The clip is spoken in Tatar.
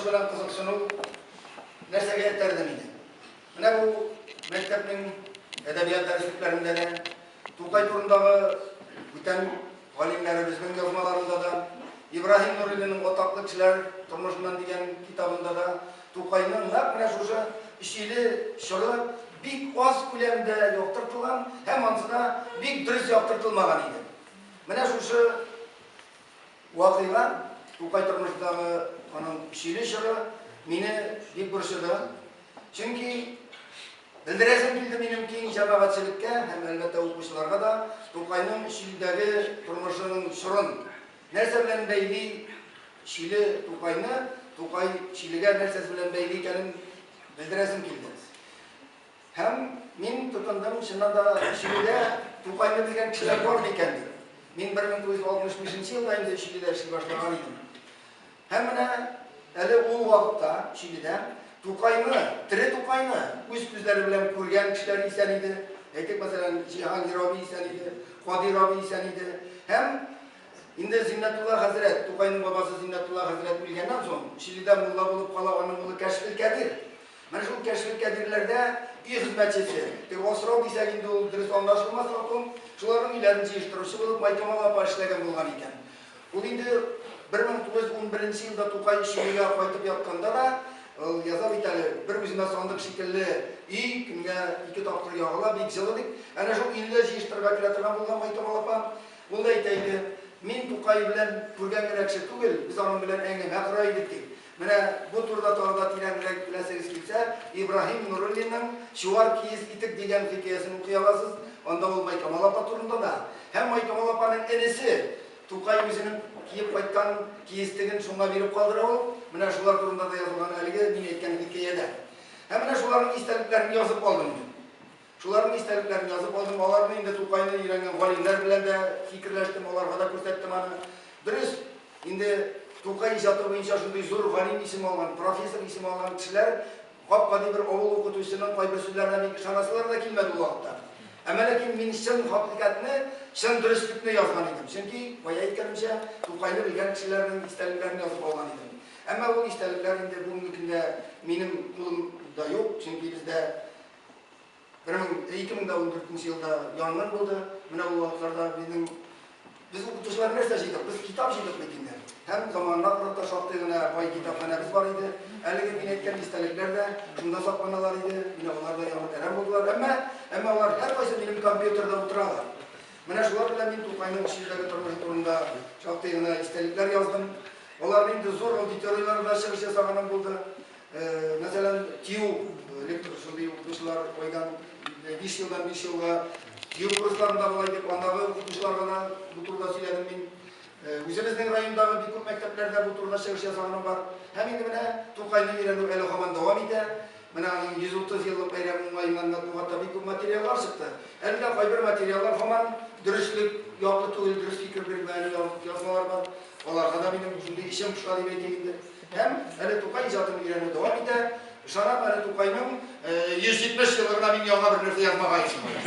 белән кызыксыну нәрсәгә этәрде мине? Менә бу мәктәпнең әдәбият дәреслекләрендә дә, Тукай турындагы бүтән галимнәребезнең язмаларында да, Ибраһим Нуриллинның Атаклы кешеләр тормышыннан дигән китабында да Тукайның нәкъ менә шушы җиле чоры бик аз күләмдә яктыртылган һәм ансы да бик дөрес яктыртылмаган иде. Менә шушы вакыйга, Тукай тормышындагы аның чиле чоры мине бик борчыды. Чөнки белдерәсем килде минем киң җәмәгатьчелеккә һәм әлбәттә укучыларга да Тукайның чилдәге тормышының чорын нәрсә белән бәйли Чиле Тукайны, Тукай Чилегә нәрсәсе белән бәйли икәнен белдерәсем килде. Һәм мин тотындым, чыннан да, Өчиледә Тукайны белгән кешеләр бар микән дип. Мин 1965 нче елда инде Өчиледә эшли башлаган идем. Һәм менә әле ул вакытта Өчиледә Тукайны, тере Тукайны үз күзләре белән күргән кешеләр исән иде. Әйтик, мәсәлән, Җиһангир абый исән иде, Кадир абый исән иде. Һәм инде Зиннәтулла хәзрәт, Тукайның бабасы Зиннәтулла хәзрәт үлгәннән соң, Өчиледә мулла булып кала аның улы Кәшфелкәбир. Менә шул кәшф кәбирләрдә өй хезмәтчесе, теге асрау дисәк инде ул дөрес аңлашылмас хатун, шуларның өйләрен җыештыручы булып Майтамал апа эшләгән булган икән. Ул инде 1911 нче елда Тукай Чигүгә кайтып ятканда да, ул яза бит әле, Бер үземә сандык шикелле өй, көнгә ике тапкыр ягыла, бик җылы, дип. Әнә шул өйне дә җыештырырга кирәк торган булган Майтамал апа. Ул да әйтә иде, Мин Тукай белән күргән генә кеше түгел, без аның белән әңгәмә кора идек, ди. Менә бу турыда тагы да тирәнрәк беләсегез килсә, Ибраһим Нуруллинның Чуар киез итек дигән хикәясен укый аласыз. Анда ул Майкамал апа турында да һәм Майкамал апаның энесе Тукай үзенең киеп кайткан киезтеген шуңа биреп калдыра ул. Менә шулар турында да язылган әлеге мин әйткән хикәядә. Һәм менә шуларның истәлекләрен язып алдым мин. Шуларның истәлекләрен язып алдым, аларны инде Тукайны өйрәнгән галимнәр белән дә фикерләштем, аларга да күрсәттем аны. Дөрес, инде Тукай иҗаты буенча шундый зур галим исеме алган, профессор исеме алган кешеләр гап-гади бер авыл укытучысының кайбер сүзләренә бик ышанасылары да килмәде ул вакытта. Әмма ләкин мин чын хакыйкатьне, чын дөреслекне язган идем. Чөнки, кая әйткәнемчә, Тукайны белгән кешеләрнең истәлекләрен язып алган идем. Әмма ул истәлекләр инде бүгенге көндә минем кулымда юк, чөнки бездә 2014 елда янгын булды. Менә ул вакытларда безнең без укытучылар нәрсә җыйдык? Без китап җыйдык бит инде. Һәм заманына карап та шактый гына бай китапханәбез бар иде. Әлеге мин әйткән истәлекләр дә шунда сакланалар иде. Менә алар да яңа тәрәм булдылар. Әмма, әмма алар һәркайсы минем компьютерда утыралар. Менә шулар белән мин Тукайның үз җирдәге тормышы турында шактый гына истәлекләр яздым. Алар инде зур аудиторияләрдә чыгыш ясаганым булды. Мәсәлән, TU лекторы шундый укытучылар айдан биш елдан биш елга TU курсларында була иде. Андагы укытучыларга да бу турыда сөйләдем мин. Үзебезнең райондагы бик күп мәктәпләрдә бу турыда чыгыш язганым бар. Һәм инде менә Тукайны өйрәнү әле һаман дәвам итә. Менә аның 130 еллык бәйрәме уңаеннан матбугатта бик күп материаллар чыкты. Әле дә кайбер материаллар һаман дөреслек яклы түгел, дөрес фикер бирмәгән язмалар бар. Аларга да минем шундый эчем поша дип әйтик инде. Һәм әле Тукай иҗатын өйрәнү дәвам итә. Ышанам, әле Тукайның 170 еллыгына мин яңа бер нәрсә язмага ирешмәгән.